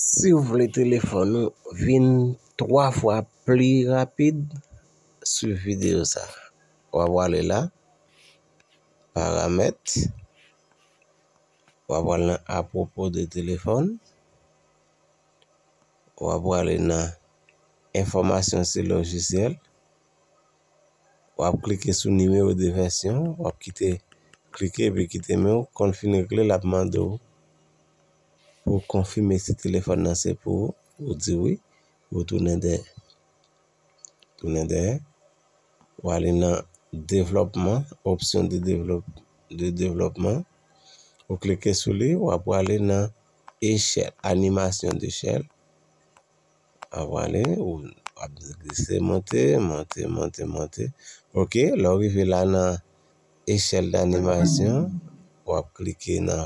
Si w vle telefòn ou vin 3 fwa pli rapid, swiv videyo sa. W ap wale la, paramèt, w ap wale nan apwopo de telefòn, w ap wale nan enfòmasyon sou lojisyèl, w ap klike sou nimewo de vèsyon, w ap kite klike epi kite men w konfini l ap mande w. Pou w konfime si telefòn nan se pou ou, ou di wi, ou tounen dèyè. Tounen dèyè, ou ale nan devlòpman, opsyon de devlòp, de devlòpman, ou klike sou li, ou a pwale nan echèl, animasyon dechèl, a pwale, ou ap glise monte, monte, monte, monte, ok, lè w rive la nan echèl danimasyon, ou ap klike nan.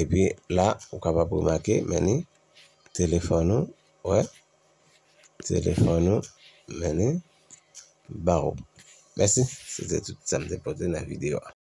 Epi la ou kapab remake men ni telefòn ou wè telefòn ou men ni ba ou. Mèsi se te tout sa m te pote nan videyo a.